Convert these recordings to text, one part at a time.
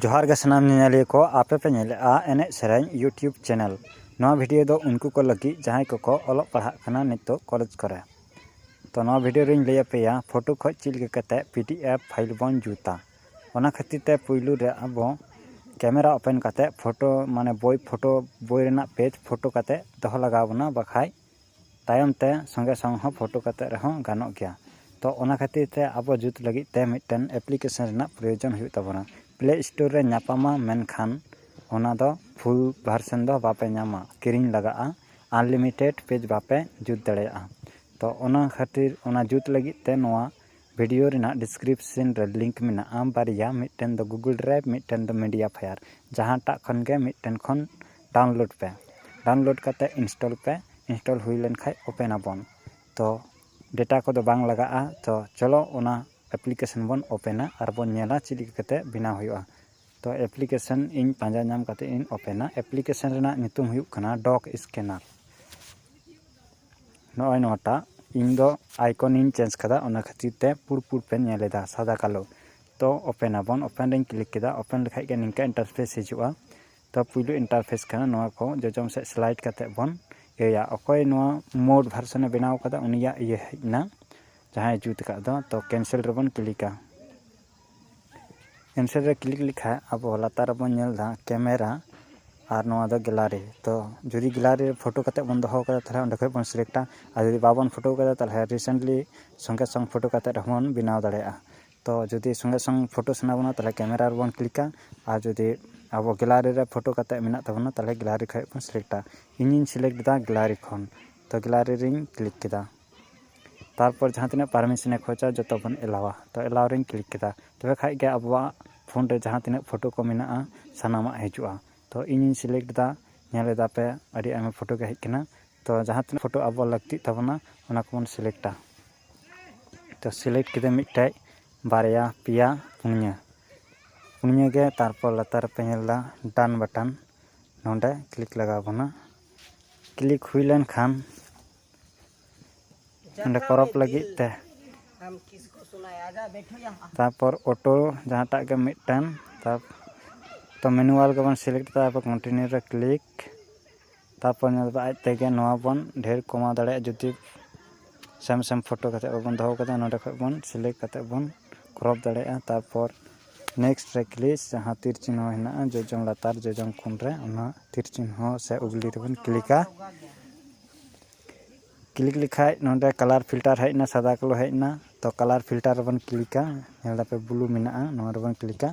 ᱡᱚᱦᱟᱨ ᱜᱮ ᱥᱟᱱᱟᱢ ᱧᱮᱧᱮᱞᱤᱭᱟᱹ ᱠᱚ ᱟᱯᱮ ᱯᱮ ᱧᱮᱞᱮᱫᱼᱟ ᱮᱱᱮᱡ ᱥᱮᱨᱮᱧ ᱤᱭᱩᱴᱤᱭᱩᱵᱽ ᱪᱮᱱᱮᱞ ᱱᱚᱣᱟ ᱵᱷᱤᱰᱤᱭᱳ ᱫᱚ ᱩᱱᱠᱩ ᱠᱚ ᱞᱟᱹᱜᱤᱫ ᱡᱟᱦᱟᱸᱭ ᱠᱚᱠᱚ ᱚᱞᱚᱜ ᱯᱟᱲᱦᱟᱜ ᱠᱟᱱᱟ ᱱᱤᱛᱚᱜ ᱠᱚᱞᱮᱡᱽ ᱠᱚᱨᱮ ᱛᱚ ᱱᱚᱣᱟ ᱵᱷᱤᱰᱤᱭᱳ ᱨᱮᱧ ᱞᱟᱹᱭ ᱟᱯᱮᱭᱟ ᱯᱷᱳᱴᱳ ᱠᱷᱚᱱ ᱪᱮᱫ ᱞᱮᱠᱟ ᱠᱟᱛᱮᱫ ᱯᱤ ᱰᱤ ᱮᱯᱷ ᱯᱷᱟᱭᱤᱞ ᱵᱚᱱ ᱡᱩᱛᱟ ᱚᱱᱟ ᱠᱷᱟᱹᱛᱤᱨ ᱛᱮ ᱯᱩᱭᱞᱩ ᱨᱮ ᱟᱵᱚ ᱠᱮᱢᱮᱨᱟ ᱳᱯᱮᱱ ᱠᱟᱛᱮᱫ ᱯᱷᱳᱴᱳ ᱢᱟᱱᱮ ᱵᱳᱭ ᱯᱷᱳᱴᱳ ᱵᱳᱭ ᱨᱮᱱᱟᱜ ᱯᱮᱡᱽ ᱯᱷᱳᱴᱳ ᱠᱟᱛᱮᱫ ᱫᱚᱦᱚ ᱞᱟᱜᱟᱣ ᱵᱚᱱᱟ ᱵᱟᱠᱷᱟᱱ ᱛᱟᱭᱚᱢ ᱛᱮ ᱥᱚᱸᱜᱮ ᱥᱚᱝ ᱦᱚᱸ ᱯᱷᱳᱴᱳ ᱠᱟᱛᱮ ᱨᱮᱦᱚᱸ ᱜᱟᱱᱚᱜ ᱜᱮᱭᱟ ᱛᱚ ᱚᱱᱟ ᱠᱷᱟᱹᱛᱤᱨ ᱛᱮ ᱟᱵᱚ ᱡᱩᱛ ᱞᱟᱹᱜᱤᱫ ᱛᱮ ᱢᱤᱫᱴᱮᱱ ᱮᱯᱞᱤᱠᱮᱥᱚᱱ ᱨᱮᱱᱟᱜ ᱯᱨᱚᱭᱳᱡᱚᱱ ᱦᱩᱭᱩᱜ ᱛᱟᱵᱚᱱᱟ ᱯᱞᱮ ᱥᱴᱳᱨ ᱨᱮ ᱧᱟᱯᱟᱢᱟ ᱢᱮᱱᱠᱷᱟᱱ ᱚᱱᱟ ᱫᱚ ᱯᱷᱩᱞ ᱵᱷᱟᱨᱥᱮᱱ ᱫᱚ ᱵᱟᱯᱮ ᱧᱟᱢᱟ ᱠᱤᱨᱤᱧ ᱞᱟᱜᱟᱜᱼᱟ ᱟᱱᱞᱤᱢᱤᱴᱮᱰ ᱯᱮᱡᱽ ᱵᱟᱯᱮ ᱡᱩᱛ ᱫᱟᱲᱮᱭᱟᱜᱼᱟ ᱛᱚ ᱚᱱᱟ ᱠᱷᱟᱹᱛᱤᱨ ᱚᱱᱟ ᱡᱩᱛ ᱞᱟᱹᱜᱤᱫ ᱛᱮ ᱱᱚᱣᱟ ᱵᱷᱤᱰᱤᱭᱳ ᱨᱮᱱᱟᱜ ᱰᱤᱥᱠᱨᱤᱯᱥᱮᱱ ᱨᱮ ᱞᱤᱝᱠ ᱢᱮᱱᱟᱜᱼᱟ ᱵᱟᱨᱭᱟ ᱢᱤᱫᱴᱮᱱ ᱫᱚ ᱜᱩᱜᱩᱞ ᱰᱨᱟᱭᱤᱵᱷ ᱢᱤᱫᱴᱮᱱ ᱫᱚ ᱢᱤᱰᱤᱭᱟ ᱯᱷᱟᱭᱟᱨ ᱡᱟᱦᱟᱸᱴᱟᱜ ᱠᱷᱚᱱ ᱜᱮ ᱢᱤᱫᱴᱮᱱ ᱠᱷᱚᱱ ᱰᱟᱣᱩᱱᱞᱳᱰ ᱯᱮ ᱰᱟᱣᱩᱱᱞᱳᱰ ᱠᱟᱛᱮ ᱤᱱᱥᱴᱚᱞ ᱯᱮ ᱤᱱᱥᱴᱚᱞ ᱦᱩᱭ ᱞᱮᱱ ᱠᱷᱟᱡ ᱳᱯᱮᱱ ᱟᱵᱚᱱ ᱛᱚ ᱰᱮᱴᱟ ᱠᱚᱫᱚ ᱵᱟᱝ ᱞᱟᱜᱟᱜᱼᱟ ᱛᱚ ᱪᱚᱞᱚ ᱚᱱᱟ ᱮᱯᱞᱤᱠᱮᱥᱚᱱ ᱵᱚᱱ ᱳᱯᱮᱱᱟ ᱟᱨ ᱵᱚᱱ ᱧᱮᱞᱟ ᱪᱮᱫ ᱞᱮᱠᱟ ᱠᱟᱛᱮ ᱵᱮᱱᱟᱣ ᱦᱩᱭᱩᱜᱼᱟ ᱛᱚ ᱮᱯᱞᱤᱠᱮᱥᱚᱱ ᱤᱧ ᱯᱟᱸᱡᱟ ᱧᱟᱢ ᱠᱟᱛᱮ ᱤᱧ ᱳᱯᱮᱱᱟ ᱮᱯᱞᱤᱠᱮᱥᱚᱱ ᱨᱮᱱᱟᱜ ᱧᱩᱛᱩᱢ ᱦᱩᱭᱩᱜ ᱠᱟᱱᱟ ᱰᱚᱠ ᱥᱠᱮᱱᱟᱨ ᱱᱚᱜᱼᱚᱭ ᱱᱚᱣᱟᱴᱟᱜ ᱤᱧ ᱫᱚ ᱟᱭᱠᱚᱱ ᱤᱧ ᱪᱮᱧᱡᱽ ᱠᱟᱫᱟ ᱚᱱᱟ ᱠᱷᱟᱹᱛᱤᱨ ᱛᱮ ᱯᱩᱲ ᱯᱩᱲ ᱯᱮ ᱧᱮᱞ ᱮᱫᱟ ᱥᱟᱫᱟ ᱠᱟᱞᱳ ᱛᱚ ᱳᱯᱮᱱ ᱟᱵᱚᱱ ᱳᱯᱮᱱ ᱨᱤᱧ ᱠᱞᱤᱠ ᱠᱮᱫᱟ ᱳᱯᱮᱱ ᱞᱮᱠᱷᱟᱡ ᱜᱮ ᱱᱤᱝᱠᱟᱹ ᱤᱱᱴᱟᱨᱯᱷᱮᱥ ᱦᱤᱡᱩᱜᱼᱟ ᱛᱚ ᱯᱩᱭᱞᱩ ᱤᱱᱴᱟᱨᱯᱷᱮᱥ ᱠᱟᱱᱟ ᱱᱚᱣᱟ ᱠᱚ ᱡᱚᱡᱚᱢ ᱥᱮᱫ ᱥᱞᱟᱭᱤᱰ ᱠᱟᱛᱮᱫ ᱵᱚᱱ ᱤᱭᱟᱹᱭᱟ ᱚᱠᱚᱭ ᱱᱚᱣᱟ ᱢᱳᱨ ᱵᱷᱟᱨᱥᱮᱱᱮ ᱵᱮᱱᱟᱣ ᱠᱟᱫᱟ ᱩᱱᱤᱭᱟᱜ ᱤᱭᱟᱹ ᱦᱮᱡ ᱮᱱᱟ ᱡᱟᱦᱟᱸᱭ ᱡᱩᱛ ᱟᱠᱟᱫ ᱫᱚ ᱛᱚ ᱠᱮᱱᱥᱮᱞ ᱨᱮᱵᱚᱱ ᱠᱞᱤᱠᱟ ᱠᱮᱱᱥᱮᱞ ᱨᱮ ᱠᱞᱤᱠ ᱞᱮᱠᱷᱟᱡ ᱟᱵᱚ ᱞᱟᱛᱟᱨ ᱨᱮᱵᱚᱱ ᱧᱮᱞ ᱮᱫᱟ ᱠᱮᱢᱮᱨᱟ ᱟᱨ ᱱᱚᱣᱟ ᱫᱚ ᱜᱮᱞᱟᱨᱤ ᱛᱚ ᱡᱩᱫᱤ ᱜᱮᱞᱟᱨᱤ ᱨᱮ ᱯᱷᱳᱴᱳ ᱠᱟᱛᱮᱫ ᱵᱚᱱ ᱫᱚᱦᱚ ᱠᱟᱫᱟ ᱛᱟᱦᱚᱞᱮ ᱚᱸᱰᱮ ᱠᱷᱚᱡ ᱵᱚᱱ ᱥᱤᱞᱮᱠᱴᱟ ᱟᱨ ᱡᱩᱫᱤ ᱵᱟᱵᱚᱱ ᱯᱷᱳᱴᱳ ᱠᱟᱫᱟ ᱛᱟᱦᱚᱞᱮ ᱨᱤᱥᱮᱱᱴᱞᱤ ᱥᱚᱸᱜᱮ ᱥᱚᱝ ᱯᱷᱳᱴᱳ ᱠᱟᱛᱮᱫ ᱨᱮᱦᱚᱸ ᱵᱚᱱ ᱵᱮᱱᱟᱣ ᱫᱟᱲᱮᱭᱟᱜᱼᱟ ᱛᱚ ᱡᱩᱫᱤ ᱥᱚᱸᱜᱮ ᱥᱚᱝ ᱯᱷᱳᱴᱳ ᱥᱟᱱᱟ ᱵᱚᱱᱟ ᱛᱟᱦᱚᱞᱮ ᱠᱮᱢᱮᱨᱟ ᱨᱮᱵᱚᱱ ᱠᱞᱤᱠᱟ ᱟᱨ ᱡᱩᱫᱤ ᱟᱵᱚ ᱜᱮᱞᱟᱨᱤ ᱨᱮ ᱯᱷᱳᱴᱳ ᱠᱟᱛᱮᱫ ᱢᱮᱱᱟᱜ ᱛᱟᱵᱚᱱᱟ ᱛᱟᱦᱚᱞᱮ ᱜᱮᱞᱟᱨᱤ ᱠᱷᱚᱱ ᱵᱚᱱ ᱥᱤᱞᱮᱠᱴᱟ ᱤᱧᱤᱧ ᱥᱤᱞᱮᱠᱴ ᱮᱫᱟ ᱜᱮᱞᱟᱨᱤ ᱠᱷᱚᱱ ᱛᱚ ᱜᱮᱞᱟᱨᱤ ᱨᱤᱧ ᱠᱞᱤᱠ ᱠᱮᱫᱟ ᱛᱟᱨᱯᱚᱨ ᱡᱟᱦᱟᱸ ᱛᱤᱱᱟᱹᱜ ᱯᱟᱨᱢᱤᱥᱮᱱᱮ ᱠᱷᱚᱡᱟ ᱡᱚᱛᱚ ᱵᱚᱱ ᱮᱞᱟᱣᱟ ᱛᱚ ᱮᱞᱟᱣ ᱨᱤᱧ ᱠᱞᱤᱠ ᱠᱮᱫᱟ ᱛᱚᱵᱮ ᱠᱷᱟᱱ ᱜᱮ ᱟᱵᱚᱣᱟᱜ ᱯᱷᱳᱱ ᱨᱮ ᱡᱟᱦᱟᱸ ᱛᱤᱱᱟᱹᱜ ᱯᱷᱳᱴᱳ ᱠᱚ ᱢᱮᱱᱟᱜᱼᱟ ᱥᱟᱱᱟᱢᱟᱜ ᱦᱤᱡᱩᱜᱼᱟ ᱛᱚ ᱤᱧᱤᱧ ᱥᱤᱞᱮᱠᱴ ᱮᱫᱟ ᱧᱮᱞ ᱮᱫᱟ ᱯᱮ ᱟᱹᱰᱤ ᱟᱭᱢᱟ ᱯᱷᱳᱴᱳ ᱜᱮ ᱦᱮᱡ ᱟᱠᱟᱱᱟ ᱛᱚ ᱡᱟᱦᱟᱸ ᱛᱤᱱᱟᱹᱜ ᱯᱷᱳᱴᱳ ᱟᱵᱚ ᱞᱟᱹᱠᱛᱤᱜ ᱛᱟᱵᱚᱱᱟ ᱚᱱᱟ ᱠᱚᱵᱚᱱ ᱥᱤᱞᱮᱠᱴᱟ ᱛᱚ ᱥᱤᱞᱮᱠᱴ ᱠᱮᱫᱟᱹᱧ ᱢᱤᱫᱴᱮᱡ ᱵᱟᱨᱭᱟ ᱯᱮᱭᱟ ᱯᱩᱱᱭᱟᱹ ᱯᱩᱱᱭᱟᱹ ᱜᱮ ᱛᱟᱨᱯᱚᱨ ᱞᱟᱛᱟᱨ ᱨᱮᱯᱮ ᱧᱮᱞ ᱮᱫᱟ ᱰᱟᱱ ᱵᱟᱴᱚᱱ ᱱᱚᱰᱮ ᱠᱞᱤᱠ ᱞᱟᱜᱟᱣ ᱵᱚᱱᱟ ᱠᱞᱤᱠ ᱦᱩᱭ ᱞᱮᱱᱠᱷᱟᱱ ᱚᱸᱰᱮ ᱠᱚᱨᱚᱯ ᱞᱟᱹᱜᱤᱫ ᱛᱮ ᱛᱟᱨᱯᱚᱨ ᱚᱴᱳ ᱡᱟᱦᱟᱸᱴᱟᱜ ᱜᱮ ᱢᱤᱫᱴᱮᱱ ᱛᱟᱨᱯᱚᱨ ᱛᱚ ᱢᱮᱱᱩᱣᱟᱞ ᱜᱮᱵᱚᱱ ᱥᱤᱞᱮᱠᱴ ᱮᱫᱟ ᱛᱟᱨᱯᱚᱨ ᱠᱚᱱᱴᱤᱱᱤᱭᱩ ᱨᱮ ᱠᱞᱤᱠ ᱛᱟᱨᱯᱚᱨ ᱧᱮᱞ ᱵᱮᱱ ᱟᱡ ᱛᱮᱜᱮ ᱱᱚᱣᱟ ᱵᱚᱱ ᱰᱷᱮᱨ ᱠᱚᱢᱟᱣ ᱫᱟᱲᱮᱭᱟᱜᱼᱟ ᱡᱩᱫᱤ ᱥᱮᱢ ᱥᱮᱢ ᱯᱷᱳᱴᱳ ᱠᱟᱛᱮᱫ ᱵᱟᱵᱚᱱ ᱫᱚᱦᱚ ᱠᱟᱫᱟ ᱱᱚᱰᱮ ᱠᱷᱚᱱ ᱵᱚᱱ ᱥᱤᱞᱮᱠᱴ ᱠᱟᱛᱮᱫ ᱵᱚᱱ ᱠᱨᱚᱯ ᱫᱟᱲᱮᱭᱟᱜᱼᱟ ᱛᱟᱨᱯᱚᱨ ᱱᱮᱠᱥᱴ ᱨᱮ ᱠᱞᱤᱠ ᱡᱟᱦᱟᱸ ᱛᱤᱨ ᱪᱤᱱᱦᱟᱹ ᱦᱮᱱᱟᱜᱼᱟ ᱡᱚᱡᱚᱢ ᱞᱟᱛᱟᱨ ᱡᱚᱡᱚᱢ ᱠᱚᱬ ᱨᱮ ᱚᱱᱟ ᱛᱤᱨ ᱪᱤᱱᱦᱟᱹ ᱥᱮ ᱩᱜᱽᱞᱤ ᱨᱮᱵᱚᱱ ᱠᱞᱤᱠᱟ ᱠᱞᱤᱠ ᱞᱮᱠᱷᱟᱱ ᱱᱚᱰᱮ ᱠᱟᱞᱟᱨ ᱯᱷᱤᱞᱴᱟᱨ ᱦᱮᱡ ᱮᱱᱟ ᱥᱟᱫᱟ ᱠᱟᱞᱳ ᱦᱮᱡ ᱮᱱᱟ ᱛᱳ ᱠᱟᱞᱟᱨ ᱯᱷᱤᱞᱴᱟᱨ ᱨᱮᱵᱚᱱ ᱠᱞᱤᱠᱟ ᱧᱮᱞ ᱫᱟᱯᱮ ᱵᱞᱩ ᱢᱮᱱᱟᱜᱼᱟ ᱱᱚᱣᱟ ᱨᱮᱵᱚᱱ ᱠᱞᱤᱠᱟ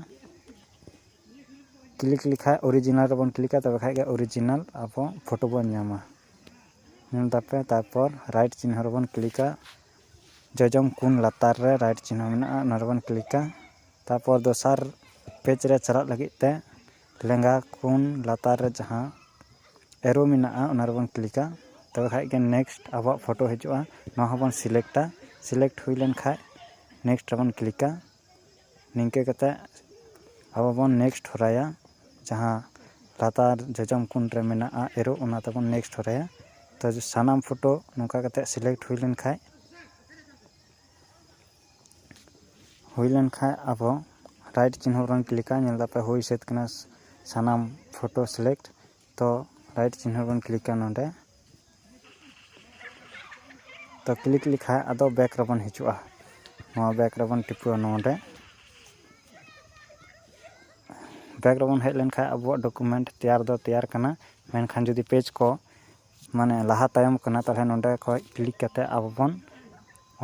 ᱠᱞᱤᱠ ᱞᱮᱠᱷᱟᱡ ᱚᱨᱤᱡᱤᱱᱟᱞ ᱨᱮᱵᱚᱱ ᱠᱞᱤᱠᱟ ᱛᱚᱵᱮ ᱠᱷᱟᱡ ᱜᱮ ᱚᱨᱤᱡᱤᱱᱟᱞ ᱟᱵᱚ ᱯᱷᱚᱴᱳ ᱵᱚᱱ ᱧᱟᱢᱟ ᱧᱮᱞ ᱫᱟᱯᱮ ᱛᱟᱨᱯᱚᱨ ᱨᱟᱭᱤᱴ ᱪᱤᱱᱦᱟᱹ ᱨᱮᱵᱚᱱ ᱠᱞᱤᱠᱟ ᱡᱚᱡᱚᱢ ᱠᱚᱱ ᱞᱟᱛᱟᱨ ᱨᱮ ᱨᱟᱭᱤᱴ ᱪᱤᱱᱦᱟᱹ ᱢᱮᱱᱟᱜᱼᱟ ᱚᱱᱟ ᱨᱮᱵᱚᱱ ᱠᱞᱤᱠᱟ ᱛᱟᱨᱯᱚᱨ ᱫᱚᱥᱟᱨ ᱯᱮᱡᱽ ᱨᱮ ᱪᱟᱞᱟᱜ ᱞᱟᱹᱜᱤᱫ ᱛᱮ ᱞᱮᱸᱜᱟ ᱠᱚᱱ ᱞᱟᱛᱟᱨ ᱨᱮ ᱡᱟᱦᱟᱸ ᱮᱨᱳ ᱢᱮᱱᱟᱜᱼᱟ ᱚᱱᱟ ᱨᱮᱵᱚᱱ ᱠᱞᱤᱠᱟ ᱛᱚᱵᱮ ᱠᱷᱟᱡ ᱜᱮ ᱱᱮᱠᱥᱴ ᱟᱵᱚᱣᱟᱜ ᱯᱷᱚᱴᱳ ᱦᱤᱡᱩᱜᱼᱟ ᱱᱚᱣᱟ ᱦᱚᱸᱵᱚᱱ ᱥᱤᱞᱮᱠᱴᱟ ᱥᱤᱞᱮᱠᱴ ᱦᱩᱭ ᱞᱮᱱᱠᱷᱟᱡ ᱱᱮᱠᱥᱴ ᱨᱮᱵᱚᱱ ᱠᱞᱤᱠᱟ ᱱᱤᱝᱠᱟᱹ ᱠᱟᱛᱮ ᱟᱵᱚ ᱵᱚᱱ ᱱᱮᱠᱥᱴ ᱦᱚᱨᱟᱭᱟ ᱡᱟᱦᱟᱸ ᱞᱟᱛᱟᱨ ᱡᱚᱡᱚᱢ ᱠᱳᱱ ᱨᱮ ᱢᱮᱱᱟᱜᱼᱟ ᱮᱨᱳ ᱚᱱᱟ ᱛᱮᱵᱚᱱ ᱱᱮᱠᱥᱴ ᱦᱚᱨᱟᱭᱟ ᱛᱚ ᱥᱟᱱᱟᱢ ᱯᱷᱳᱴᱳ ᱱᱚᱝᱠᱟ ᱠᱟᱛᱮ ᱥᱤᱞᱮᱠᱴ ᱦᱩᱭ ᱞᱮᱱᱠᱷᱟᱡ ᱦᱩᱭ ᱞᱮᱱᱠᱷᱟᱡ ᱟᱵᱚ ᱨᱟᱭᱤᱴ ᱪᱤᱱᱦᱟᱹ ᱵᱚᱱ ᱠᱞᱤᱠᱟ ᱧᱮᱞ ᱫᱟᱯᱮ ᱦᱩᱭ ᱥᱟᱹᱛ ᱠᱟᱱᱟ ᱥᱟᱱᱟᱢ ᱯᱷᱳᱴᱳ ᱥᱤᱞᱮᱠᱴ ᱛᱚ ᱨᱟᱭᱤᱴ ᱪᱤᱱᱦᱟᱹ ᱵᱚᱱ ᱠᱞᱤᱠᱟ ᱱᱚᱸᱰᱮ ᱛᱚ ᱠᱞᱤᱠ ᱞᱮᱠᱷᱟᱡ ᱟᱫᱚ ᱵᱮᱠ ᱨᱮᱵᱚᱱ ᱦᱤᱡᱩᱜᱼᱟ ᱱᱚᱣᱟ ᱵᱮᱠ ᱨᱮᱵᱚᱱ ᱴᱤᱯᱟᱹᱣᱟ ᱱᱚᱸᱰᱮ ᱵᱮᱠ ᱨᱮᱵᱚᱱ ᱦᱮᱡ ᱞᱮᱱᱠᱷᱟᱡ ᱟᱵᱚᱣᱟᱜ ᱰᱚᱠᱩᱢᱮᱱᱴ ᱛᱮᱭᱟᱨ ᱫᱚ ᱛᱮᱭᱟᱨ ᱠᱟᱱᱟ ᱢᱮᱱᱠᱷᱟᱱ ᱡᱩᱫᱤ ᱯᱮᱡᱽ ᱠᱚ ᱢᱟᱱᱮ ᱞᱟᱦᱟ ᱛᱟᱭᱚᱢ ᱠᱟᱱᱟ ᱛᱟᱦᱚᱞᱮ ᱱᱚᱸᱰᱮ ᱠᱷᱚᱡ ᱠᱞᱤᱠ ᱠᱟᱛᱮ ᱟᱵᱚ ᱵᱚᱱ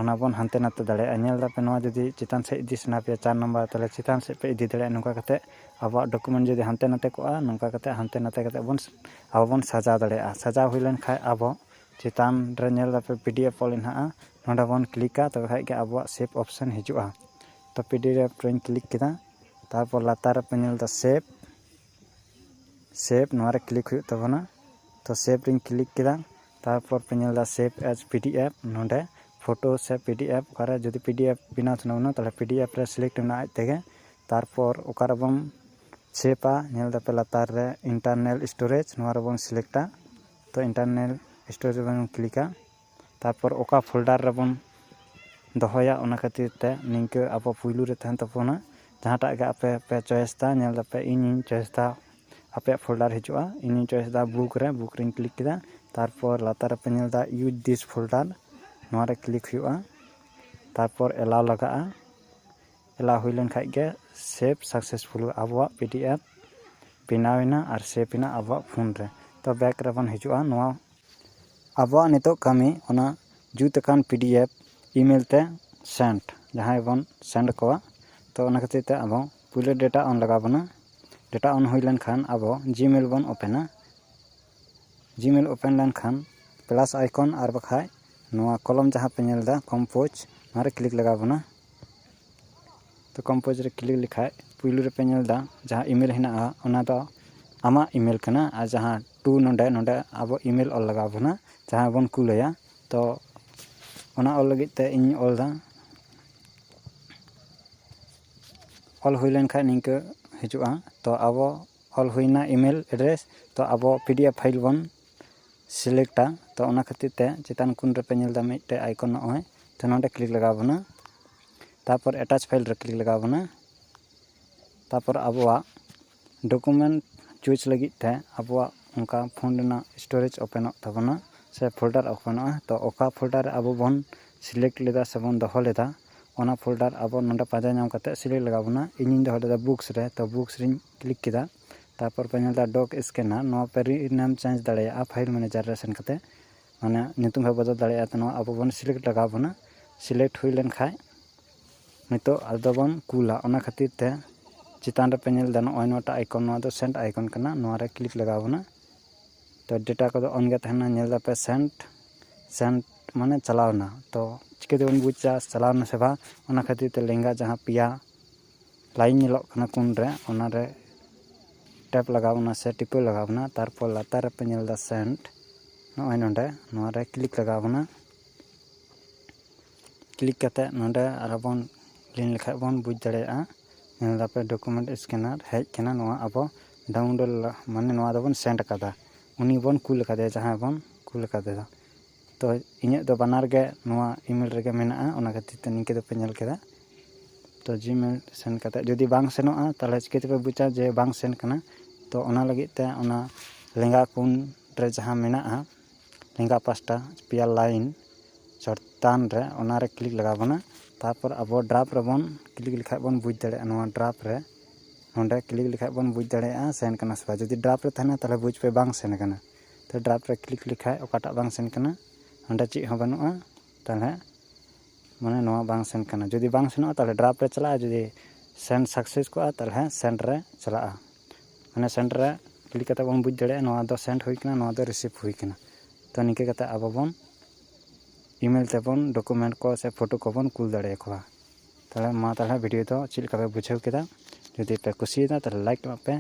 ᱚᱱᱟ ᱵᱚᱱ ᱦᱟᱱᱛᱮ ᱱᱟᱛᱮ ᱫᱟᱲᱮᱭᱟᱜᱼᱟ ᱧᱮᱞ ᱮᱫᱟᱯᱮ ᱱᱚᱣᱟ ᱡᱩᱫᱤ ᱪᱮᱛᱟᱱ ᱥᱮᱫ ᱤᱫᱤ ᱥᱟᱱᱟ ᱯᱮᱭᱟ ᱪᱟᱨ ᱱᱟᱢᱵᱟᱨ ᱛᱟᱦᱚᱞᱮ ᱪᱮᱛᱟᱱ ᱥᱮᱫ ᱯᱮ ᱤᱫᱤ ᱫᱟᱲᱮᱭᱟᱜᱼᱟ ᱱᱚᱝᱠᱟ ᱠᱟᱛᱮᱫ ᱟᱵᱚᱣᱟᱜ ᱰᱚᱠᱩᱢᱮᱱᱴ ᱡᱩᱫᱤ ᱦᱟᱱᱛᱮ ᱱᱟᱛᱮ ᱠᱚᱜᱼᱟ ᱱᱚᱝᱠᱟ ᱠᱟᱛᱮᱫ ᱦᱟᱱᱛᱮ ᱱᱟᱛᱮ ᱠᱟᱛᱮᱫ ᱵᱚᱱ ᱟᱵᱚ ᱵᱚᱱ ᱥᱟᱡᱟᱣ ᱫᱟᱲᱮᱭᱟᱜᱼᱟ ᱥᱟᱡᱟᱣ ᱦᱩᱭ ᱞᱮᱱᱠᱷᱟᱱ ᱟᱵᱚ ᱪᱮᱛᱟᱱ ᱨᱮ ᱧᱮᱞ ᱮᱫᱟᱯᱮ ᱯᱤ ᱰᱤ ᱮᱯᱷ ᱚᱞ ᱦᱮᱱᱟᱜᱼᱟ ᱱᱚᱸᱰᱮ ᱵᱚᱱ ᱠᱞᱤᱠᱟ ᱛᱚᱵᱮ ᱠᱷᱟᱱ ᱜᱮ ᱟᱵᱚᱣᱟᱜ ᱥᱮᱵᱷ ᱚᱯᱷᱥᱮᱱ ᱦᱤᱡᱩᱜᱼᱟ ᱛᱚ ᱯᱤ ᱰᱤ ᱮᱯᱷ ᱨᱮᱧ ᱠᱞᱤᱠ ᱠᱮᱫᱟ ᱛᱟᱨᱯᱚᱨ ᱞᱟᱛᱟᱨ ᱨᱮᱯᱮ ᱧᱮᱞ ᱮᱫᱟ ᱥᱮᱵᱷ ᱥᱮᱵᱷ ᱱᱚᱣᱟ ᱨᱮ ᱠᱞᱤᱠ ᱦᱩᱭᱩᱜ ᱛᱟᱵᱚᱱᱟ ᱛᱚ ᱥᱮᱵᱷ ᱨᱮᱧ ᱠᱞᱤᱠ ᱠᱮᱫᱟ ᱛᱟᱨᱯᱚᱨ ᱯᱮ ᱧᱮᱞ ᱮᱫᱟ save as P D F ᱱᱚᱰᱮ ᱯᱷᱳᱴᱳ ᱥᱮ ᱯᱤ ᱰᱤ ᱮᱯᱷ ᱚᱠᱟᱨᱮ ᱡᱩᱫᱤ ᱯᱤ ᱰᱤ ᱮᱯᱷ ᱵᱮᱱᱟᱣ ᱥᱟᱱᱟ ᱵᱚᱱᱟ ᱛᱟᱦᱚᱞᱮ ᱯᱤ ᱰᱤ ᱮᱯᱷ ᱨᱮ ᱥᱤᱞᱮᱠᱴ ᱢᱮᱱᱟᱜᱼᱟ ᱟᱡ ᱛᱮᱜᱮ ᱛᱟᱨᱯᱚᱨ ᱚᱠᱟ ᱨᱮᱵᱚᱱ ᱥᱮᱵᱷ ᱟ ᱧᱮᱞ ᱮᱫᱟᱯᱮ ᱞᱟᱛᱟᱨ ᱨᱮ ᱤᱱᱴᱟᱨᱱᱮᱞ ᱥᱴᱳᱨᱮᱡ ᱱᱚᱣᱟ ᱨᱮᱵᱚᱱ ᱥᱤᱞᱮᱠᱴ ᱟ ᱛᱚ ᱤᱱᱴᱟᱨᱱᱮᱞ ᱥᱴᱳᱨᱮᱡ ᱨᱮᱵᱚᱱ ᱠᱞᱤᱠ ᱟ ᱛᱟᱨᱯᱚᱨ ᱚᱠᱟ ᱯᱷᱳᱞᱰᱟᱨ ᱨᱮᱵᱚᱱ ᱫᱚᱦᱚᱭᱟ ᱚᱱᱟ ᱠᱷᱟᱹᱛᱤᱨ ᱛᱮ ᱱᱤᱝᱠᱟᱹ ᱟᱵᱚ ᱯᱳᱭᱞᱳ ᱨᱮ ᱛᱟᱦᱮᱱ ᱛᱟᱵᱚᱱᱟ ᱡᱟᱦᱟᱸᱴᱟᱜ ᱜᱮ ᱟᱯᱮ ᱯᱮ ᱪᱚᱭᱮᱥ ᱮᱫᱟ ᱧᱮᱞ ᱮᱫᱟᱯᱮ ᱤᱧᱤᱧ ᱪᱚᱭᱮᱥ ᱮᱫᱟ ᱟᱯᱮᱭᱟᱜ ᱯᱷᱳᱞᱰᱟᱨ ᱦᱤᱡᱩᱜᱼᱟ ᱤᱧᱤᱧ ᱪᱚᱭᱮᱥ ᱮᱫᱟ ᱵᱩᱠ ᱨᱮ ᱵᱩᱠ ᱨᱮᱧ ᱠᱞᱤᱠ ᱠᱮᱫᱟ ᱛᱟᱨᱯᱚᱨ ᱞᱟᱛᱟᱨ ᱨᱮᱯᱮ ᱧᱮᱞ ᱮᱫᱟ ᱤᱭᱩᱡᱽ ᱫᱤᱥ ᱯᱷᱳᱞᱰᱟᱨ ᱱᱚᱣᱟ ᱨᱮ ᱠᱞᱤᱠ ᱦᱩᱭᱩᱜᱼᱟ ᱛᱟᱨᱯᱚᱨ ᱮᱞᱟᱣ ᱞᱟᱜᱟᱜᱼᱟ ᱮᱞᱟᱣ ᱦᱩᱭ ᱞᱮᱱ ᱠᱷᱟᱱ ᱜᱮ ᱥᱮᱵᱷ ᱥᱟᱠᱥᱮᱥᱯᱷᱩᱞ ᱟᱵᱚᱣᱟᱜ ᱯᱤ ᱰᱤ ᱮᱯᱷ ᱵᱮᱱᱟᱣ ᱮᱱᱟ ᱟᱨ ᱥᱮᱵᱷ ᱮᱱᱟ ᱟᱵᱚᱣᱟᱜ ᱯᱷᱳᱱ ᱨᱮ ᱛᱚ ᱵᱮᱠ ᱨᱮᱵᱚᱱ ᱦᱤᱡᱩᱜᱼᱟ ᱱᱚᱣᱟ ᱟᱵᱚᱣᱟᱜ ᱱᱤᱛᱚᱜ ᱠᱟᱹᱢᱤ ᱚᱱᱟ ᱡᱩᱛ ᱟᱠᱟᱱ ᱯᱤ ᱰᱤ ᱮᱯᱷ ᱤᱼᱢᱮᱞ ᱛᱮ ᱥᱮᱱᱰ ᱡᱟᱦᱟᱸᱭ ᱵᱚᱱ ᱥᱮᱱᱰ ᱟᱠᱚᱣᱟ ᱛᱚ ᱚᱱᱟ ᱠᱷᱟᱹᱛᱤᱨ ᱛᱮ ᱟᱵᱚ ᱯᱳᱭᱞᱳ ᱰᱮᱴᱟ ᱚᱱ ᱞᱟᱜᱟᱣ ᱵᱚᱱᱟ ᱰᱮᱴᱟ ᱚᱱ ᱦᱩᱭ ᱞᱮᱱᱠᱷᱟᱱ ᱟᱵᱚ ᱡᱤᱢᱮᱞ ᱵᱚᱱ ᱳᱯᱮᱱᱟ ᱡᱤᱢᱮᱞ ᱳᱯᱮᱱ ᱞᱮᱱᱠᱷᱟᱱ ᱯᱞᱟᱥ ᱟᱭᱠᱚᱱ ᱟᱨ ᱵᱟᱠᱷᱟᱡ ᱱᱚᱣᱟ ᱠᱚᱞᱚᱢ ᱡᱟᱦᱟᱸ ᱯᱮ ᱧᱮᱞ ᱮᱫᱟ ᱠᱚᱢᱯᱳᱡᱽ ᱱᱚᱣᱟᱨᱮ ᱠᱞᱤᱠ ᱞᱟᱜᱟᱣ ᱵᱚᱱᱟ ᱛᱚ ᱠᱚᱢᱯᱳᱡᱽ ᱨᱮ ᱠᱞᱤᱠ ᱞᱮᱠᱷᱟᱡ ᱯᱳᱭᱞᱳ ᱨᱮᱯᱮ ᱧᱮᱞ ᱮᱫᱟ ᱡᱟᱦᱟᱸ ᱤᱢᱮᱞ ᱦᱮᱱᱟᱜᱼᱟ ᱚᱱᱟ ᱫᱚ ᱟᱢᱟᱜ ᱤᱢᱮᱞ ᱠᱟᱱᱟ ᱟᱨ ᱡᱟᱦᱟᱸ ᱴᱩ ᱱᱚᱰᱮ ᱱᱚᱰᱮ ᱟᱵᱚ ᱤᱢᱮᱞ ᱚᱞ ᱞᱟᱜᱟᱣ ᱵᱚᱱᱟ ᱡᱟᱦᱟᱸ ᱵᱚᱱ ᱠᱩᱞ ᱟᱭᱟ ᱛᱚ ᱚᱱᱟ ᱚᱞ ᱞᱟᱹᱜᱤᱫ ᱛᱮ ᱤᱧ ᱚᱞᱫᱟ ᱚᱞ ᱦᱩᱭ ᱞᱮᱱᱠᱷᱟᱡ ᱱᱤᱝᱠᱟᱹ ᱦᱤᱡᱩᱜᱼᱟ ᱛᱚ ᱟᱵᱚ ᱚᱞ ᱦᱩᱭᱱᱟ ᱤᱼᱢᱮᱞ ᱮᱰᱨᱮᱥ ᱛᱚ ᱟᱵᱚ ᱯᱤ ᱰᱤ ᱮᱯᱷ ᱯᱷᱟᱭᱤᱞ ᱵᱚᱱ ᱥᱤᱞᱮᱠᱴᱟ ᱛᱚ ᱚᱱᱟ ᱠᱷᱟᱹᱛᱤᱨ ᱛᱮ ᱪᱮᱛᱟᱱ ᱠᱚᱱ ᱨᱮᱯᱮ ᱧᱮᱞᱫᱟ ᱢᱤᱫᱴᱮᱡ ᱟᱭᱠᱚᱱ ᱱᱚᱜᱼᱚᱭ ᱛᱚ ᱱᱚᱰᱮ ᱠᱞᱤᱠ ᱞᱟᱜᱟᱣ ᱵᱚᱱᱟ ᱛᱟᱨᱯᱚᱨ ᱮᱴᱟᱪ ᱯᱷᱟᱭᱤᱞ ᱨᱮ ᱠᱞᱤᱠ ᱞᱟᱜᱟᱣ ᱵᱚᱱᱟ ᱛᱟᱨᱯᱚᱨ ᱟᱵᱚᱣᱟᱜ ᱰᱚᱠᱩᱢᱮᱱᱴ ᱪᱩᱡᱽ ᱞᱟᱹᱜᱤᱫ ᱛᱮ ᱟᱵᱚᱣᱟᱜ ᱚᱱᱠᱟ ᱯᱷᱳᱱ ᱨᱮᱱᱟᱜ ᱥᱴᱳᱨᱮᱡᱽ ᱳᱯᱮᱱᱚᱜ ᱛᱟᱵᱚᱱᱟ ᱥᱮ ᱯᱷᱳᱞᱰᱟᱨ ᱳᱯᱮᱱᱚᱜᱼᱟ ᱛᱚ ᱚᱠᱟ ᱯᱷᱳᱞᱰᱟᱨ ᱨᱮ ᱟᱵᱚ ᱵᱚᱱ ᱥᱤᱞᱮᱠᱴ ᱞᱮᱫᱟ ᱥᱮ ᱵᱚᱱ ᱫᱚᱦᱚ ᱞᱮᱫᱟ ᱚᱱᱟ ᱯᱷᱳᱞᱰᱟᱨ ᱟᱵᱚ ᱱᱚᱰᱮ ᱯᱟᱸᱡᱟ ᱧᱟᱢ ᱠᱟᱛᱮᱫ ᱥᱤᱞᱮᱠᱴ ᱞᱟᱜᱟᱣ ᱵᱚᱱᱟ ᱤᱧᱤᱧ ᱫᱚᱦᱚ ᱞᱮᱫᱟ ᱵᱩᱠᱥ ᱨᱮ ᱛᱚ ᱵᱩᱠᱥ ᱨᱤᱧ ᱠᱞᱤᱠ ᱠᱮᱫᱟ ᱛᱟᱨᱯᱚᱨ ᱯᱮ ᱧᱮᱞᱫᱟ ᱰᱚᱠ ᱥᱠᱮᱱᱟᱨ ᱱᱚᱣᱟ ᱯᱮ ᱨᱤᱱᱮᱢ ᱪᱮᱧᱡᱽ ᱫᱟᱲᱮᱭᱟᱜᱼᱟ ᱯᱷᱟᱭᱤᱞ ᱢᱮᱱᱮᱡᱟᱨ ᱨᱮ ᱥᱮᱱ ᱠᱟᱛᱮᱫ ᱢᱟᱱᱮ ᱧᱩᱛᱩᱢ ᱦᱚᱸ ᱵᱚᱫᱚᱞ ᱫᱟᱲᱮᱭᱟᱜᱼᱟ ᱛᱚ ᱱᱚᱣᱟ ᱟᱵᱚ ᱵᱚᱱ ᱥᱤᱞᱮᱠᱴ ᱞᱟᱜᱟᱣ ᱵᱚᱱᱟ ᱥᱤᱞᱮᱠᱴ ᱦᱩᱭ ᱞᱮᱱᱠᱷᱟᱱ ᱱᱤᱛᱚᱜ ᱟᱫᱚ ᱵᱚᱱ ᱠᱩᱞᱟ ᱚᱱᱟ ᱠᱷᱟᱹᱛᱤᱨ ᱛᱮ ᱪᱮᱛᱟᱱ ᱨᱮᱯᱮ ᱧᱮᱞ ᱮᱫᱟ ᱱᱚᱜᱼᱚᱭ ᱱᱚᱣᱟᱴᱟᱜ ᱟᱭᱠᱚᱱ ᱱᱚᱣᱟ ᱫᱚ ᱥᱮᱱᱴ ᱟᱭᱠᱚᱱ ᱠᱟᱱᱟ ᱱᱚᱣᱟ ᱨᱮ ᱠᱞᱤᱠ ᱞᱟᱜᱟᱣ ᱵᱚᱱᱟ ᱛᱚ ᱰᱮᱴᱟ ᱠᱚᱫᱚ ᱚᱱ ᱜᱮ ᱛᱟᱦᱮᱱᱟ ᱧᱮᱞ ᱮᱫᱟᱯᱮ ᱥᱮᱱᱴ ᱥᱮᱱᱴ ᱢᱟᱱᱮ ᱪᱟᱞᱟᱣ ᱮᱱᱟ ᱛᱚ ᱪᱤᱠᱟᱹ ᱛᱮᱵᱚᱱ ᱵᱩᱡᱟ ᱪᱟᱞᱟᱣ ᱮᱱᱟ ᱥᱮ ᱵᱟᱝ ᱚᱱᱟ ᱠᱷᱟᱹᱛᱤᱨ ᱛᱮ ᱞᱮᱸᱜᱟ ᱡᱟᱦᱟᱸ ᱯᱮᱭᱟ ᱞᱟᱭᱤᱱ ᱧᱮᱞᱚᱜ ᱠᱟᱱᱟ ᱠᱳᱱ ᱨᱮ ᱚᱱᱟ ᱨᱮ ᱴᱮᱯ ᱞᱟᱜᱟᱣ ᱵᱚᱱᱟ ᱥᱮ ᱴᱤᱯᱟᱹᱣ ᱞᱟᱜᱟᱣ ᱵᱚᱱᱟ ᱛᱟᱨᱯᱚᱨ ᱞᱟᱛᱟᱨ ᱨᱮᱯᱮ ᱧᱮᱞ ᱮᱫᱟ ᱥᱮᱱᱴ ᱱᱚᱜᱼᱚᱭ ᱱᱚᱰᱮ ᱱᱚᱣᱟ ᱨᱮ ᱠᱞᱤᱠ ᱞᱟᱜᱟᱣ ᱵᱚᱱᱟ ᱠᱞᱤᱠ ᱠᱟᱛᱮᱫ ᱱᱚᱰᱮ ᱟᱨᱦᱚᱸ ᱵᱚᱱ ᱞᱤᱱ ᱞᱮᱠᱷᱟᱱ ᱵᱚᱱ ᱵᱩᱡᱽ ᱫᱟᱲᱮᱭᱟᱜᱼᱟ ᱧᱮᱞ ᱮᱫᱟᱯᱮ ᱰᱚᱠᱩᱢᱮᱱᱴ ᱥᱠᱮᱱᱟᱨ ᱦᱮᱡ ᱟᱠᱟᱱᱟ ᱱᱚᱣᱟ ᱟᱵᱚ ᱰᱟᱣᱩᱱᱞᱳᱰ ᱢᱟᱱᱮ ᱱᱚᱣᱟ ᱫᱚᱵᱚᱱ ᱥᱮᱱᱰ ᱟᱠᱟᱫᱟ ᱩᱱᱤ ᱵᱚᱱ ᱠᱩᱞ ᱟᱠᱟᱫᱮᱭᱟ ᱡᱟᱦᱟᱸᱭ ᱵᱚᱱ ᱠᱩᱞ ᱟᱠᱟᱫᱮᱫᱚ ᱛᱚ ᱤᱧᱟᱹᱜ ᱫᱚ ᱵᱟᱱᱟᱨ ᱜᱮ ᱱᱚᱣᱟ ᱤᱼᱢᱮᱞ ᱨᱮᱜᱮ ᱢᱮᱱᱟᱜᱼᱟ ᱚᱱᱟ ᱠᱷᱟᱹᱛᱤᱨ ᱛᱮ ᱱᱤᱝᱠᱟᱹ ᱫᱚᱯᱮ ᱧᱮᱞ ᱠᱮᱫᱟ ᱛᱚ ᱡᱤᱼᱢᱮᱞ ᱥᱮᱱᱰ ᱠᱟᱛᱮᱫ ᱡᱩᱫᱤ ᱵᱟᱝ ᱥᱮᱱᱚᱜᱼᱟ ᱛᱟᱦᱚᱞᱮ ᱪᱤᱠᱟᱹ ᱛᱮᱯᱮ ᱵᱩᱡᱟ ᱡᱮ ᱵᱟᱝ ᱥᱮᱱ ᱟᱠᱟᱱᱟ ᱛᱚ ᱚᱱᱟ ᱞᱟᱹᱜᱤᱫ ᱛᱮ ᱚᱱᱟ ᱞᱮᱸᱜᱟ ᱠᱚᱬ ᱨᱮ ᱡᱟᱦᱟᱸ ᱢᱮᱱᱟᱜᱼᱟ ᱞᱮᱸᱜᱟ ᱯᱟᱥᱴᱟ ᱯᱮᱭᱟ ᱞᱟᱭᱤᱱ ᱪᱮᱛᱟᱱ ᱨᱮ ᱚᱱᱟ ᱨᱮ ᱠᱞᱤᱠ ᱞᱟᱜᱟᱣ ᱵᱚᱱᱟ ᱛᱟᱨᱯᱚᱨ ᱟᱵᱚ ᱰᱨᱟᱯᱷ ᱨᱮᱵᱚᱱ ᱠᱞᱤᱠ ᱞᱮᱠᱷᱟᱱ ᱵᱚᱱ ᱵᱩᱡᱽ ᱫᱟᱲᱮᱭᱟᱜᱼᱟ ᱱᱚᱣᱟ ᱰᱨᱟᱯᱷ ᱨᱮ ᱱᱚᱰᱮ ᱠᱞᱤᱠ ᱞᱮᱠᱷᱟᱱ ᱵᱚᱱ ᱵᱩᱡᱽ ᱫᱟᱲᱮᱭᱟᱜᱼᱟ ᱥᱮᱱ ᱠᱟᱱᱟ ᱥᱮ ᱵᱟᱝ ᱡᱩᱫᱤ ᱰᱨᱟᱯᱷ ᱨᱮ ᱛᱟᱦᱮᱱᱟ ᱛᱟᱦᱚᱞᱮ ᱵᱩᱡᱽ ᱯᱮ ᱵᱟᱝ ᱥᱮᱱ ᱠᱟᱱᱟ ᱛᱚ ᱰᱨᱟᱯᱷ ᱨᱮ ᱠᱞᱤᱠ ᱞᱮᱠᱷᱟᱱ ᱚᱠᱟᱴᱟᱜ ᱵᱟᱝ ᱥᱮᱱ ᱠᱟᱱᱟ ᱚᱸᱰᱮ ᱪᱮᱫ ᱦᱚᱸ ᱵᱟᱹᱱᱩᱜᱼᱟ ᱛᱟᱦᱚᱞᱮ ᱢᱟᱱᱮ ᱱᱚᱣᱟ ᱵᱟᱝ ᱥᱮᱱ ᱠᱟᱱᱟ ᱡᱩᱫᱤ ᱵᱟᱝ ᱥᱮᱱᱚᱜᱼᱟ ᱛᱟᱦᱚᱞᱮ ᱰᱨᱟᱯᱷ ᱨᱮ ᱪᱟᱞᱟᱜᱼᱟ ᱡᱩᱫᱤ ᱥᱮᱱ ᱥᱟᱠᱥᱮᱥ ᱠᱚᱜᱼᱟ ᱛᱟᱦᱚᱞᱮ ᱥᱮᱱᱰ ᱨᱮ ᱪᱟᱞᱟᱜᱼᱟ ᱢᱟᱱᱮ ᱥᱮᱱᱴ ᱨᱮ ᱠᱞᱤᱠ ᱠᱟᱛᱮᱫ ᱵᱚᱱ ᱵᱩᱡᱽ ᱫᱟᱲᱮᱭᱟᱜᱼᱟ ᱱᱚᱣᱟ ᱫᱚ ᱥᱮᱱᱴ ᱦᱩᱭ ᱠᱟᱱᱟ ᱱᱚᱣᱟ ᱫᱚ ᱨᱤᱥᱤᱵᱷ ᱦᱩᱭ ᱠᱟᱱᱟ ᱛᱚ ᱱᱤᱝᱠᱟᱹ ᱠᱟᱛᱮᱫ ᱟᱵᱚ ᱵᱚᱱ ᱤᱼᱢᱮᱞ ᱛᱮᱵᱚᱱ ᱰᱚᱠᱳᱢᱮᱱᱴ ᱠᱚ ᱥᱮ ᱯᱷᱳᱴᱳ ᱠᱚᱵᱚᱱ ᱠᱩᱞ ᱫᱟᱲᱮᱭᱟ ᱠᱚᱣᱟ ᱛᱟᱦᱚᱞᱮ ᱢᱟ ᱛᱟᱦᱚᱞᱮ ᱵᱷᱤᱰᱤᱭᱳ ᱫᱚ ᱪᱮᱫ ᱞᱮᱠᱟ ᱯᱮ ᱵᱩᱡᱷᱟᱹᱣ ᱠᱮᱫᱟ ᱡᱩᱫᱤ ᱯᱮ ᱠᱩᱥᱤᱭᱟᱫᱟ ᱛᱟᱦᱚᱞᱮ ᱞᱟᱭᱤᱠ ᱠᱟᱜ ᱯᱮ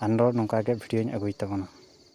ᱟᱨᱚ ᱱᱚᱝᱠᱟ ᱜᱮ ᱵᱷᱤᱰᱤᱭᱳᱧ ᱟᱹᱜᱩᱭ ᱛᱟᱵᱚᱱᱟ